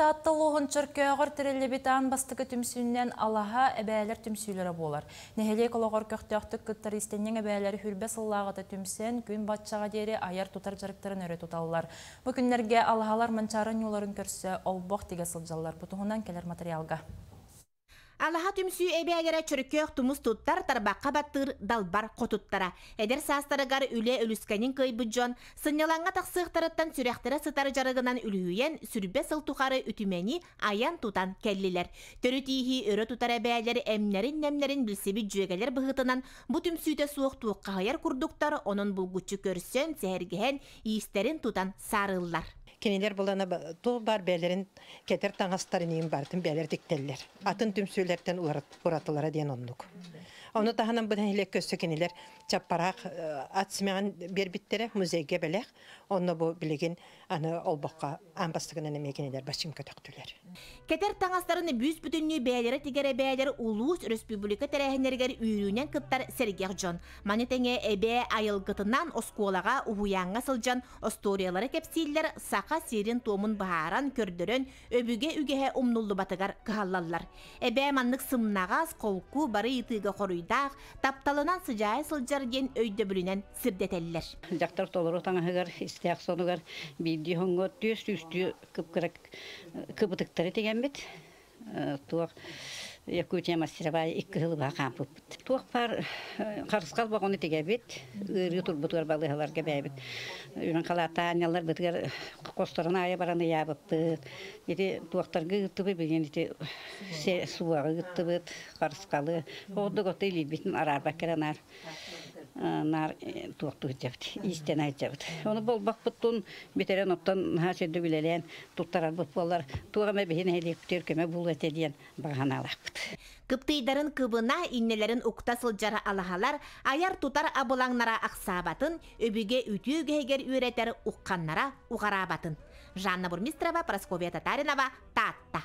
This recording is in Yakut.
Таатта улууһун Чөркөөҕөр тэриллибит аан бастакы түмсүүнэн алаһа эбээлэр түмсүүлэрэ буолар. Нэһилиэк олоҕор көхтөөхтүк кыттар иистэнньэҥ эбээлэр сүлбэ сыллааҕыта түмсэн, күн баччаҕа диэри айар-тутар дьарыктарын өрө туталлар. Бу күннэргэ алаһалар Манчаары ньууларын көрсө олбох тигэ сылдьаллар. Бу туһунан кэлэр материалга. Алаһа түмсүү эбээлэрэ чөркөөх тумус туттар тарбахха баттыыр далбар хотуттара. Эдэр саастарыгар үлэ үлүскэнин кыйбыт дьон сынньалаҥҥа тахсыахтарыттан сүрэхтэрэ сытар дьарыгынан үлүһүйэн сүрбэ сыл тухары үтүмэни айан-тутан кэллилэр. Төрүт ииһи өрө тутар эбээлэр эмнэрин-немнэрин билсибит дьүөгэлэр быһыытынан бу түмсүүтэ суох туоххаһыйар курдуктар онон булгуччу көрсөн, сэһэргэһэн иистэрин тутан саарыллар. Кинилэр булана туох баар бэйэлэрин кэтэр таҥастар инигин барытын бэйэлэрэ тиктэллэр. Атын түмсүүлэртэн уратылара диэн оннук. Ону таһынан быдан нэһилиэк өссө кинилэр чаппараах ат симэҕин биэрбиттэрэ музейга бэлэх. Онно бу билигин аны олбоххо аан бастакынан эмиэ кинилэр баччым көтөхтүлэр. Кэтэр таҥастарын бүүс-бүтүннүү бэйэлэрэ тигэрэ бэйэлэр улуус, республика тэрээһиннэригэр үүрүүнэн кыттар сэргэх дьон. Маны тэҥэ эбээ айылгытынан оскуолаҕа, уһуйааҥҥа сылдьан Остуоруйалары кэпсииллэр Саха сирин-туомун быһааран, көрдөрөн, өбүгэ үгэһэ умнуллубатыгар кыһаллаллар. Эбээ маннык сымнаҕас, холку, бары ыйытыыга хоруйдаах, тапталынан сыдьаайа сылдьар диэн өйдөбүлүнэн сирдэтэллэр. Дьахтар толору таҥаһыгар, истээх сонугар биирдии хоҥҥо түөрт сүүстүү кыбытыктары тигэммит. туох Якутия мастеровая икки сыл быһа хаампыппыт. Туох баар харысхал богону тигэбит, ыарыы турбутугар балыһаларга бэйэбит үрүн халаатаанньалар бытыгар косторун аайы баран ыйаабыппыт. Ити туохтарга ыыттыбыт билигин ити суоҕа ыыттыбыт харысхалы ордук оту илиирбитин араарбакка наар наар туохтук дьэбит иистэн айдьабыт ону болбакпыттун бүтэрэн оттон наһаа сирдик үлэлээн туттарарбыт буоллар туох эмэ биһи нэһилиэктиир көмө булуо этэ диэн баҕанаалаахпыт кыптыйдарын кыбына иннилэрин укта сылдьар алаһалар айар-тутар абылаҥнара ахсаабатын өбүгэ үтүө үгэһигэр үөрэтэр ухханнара уҕараабатын жанна бурмистрова прасковья татаринова таатта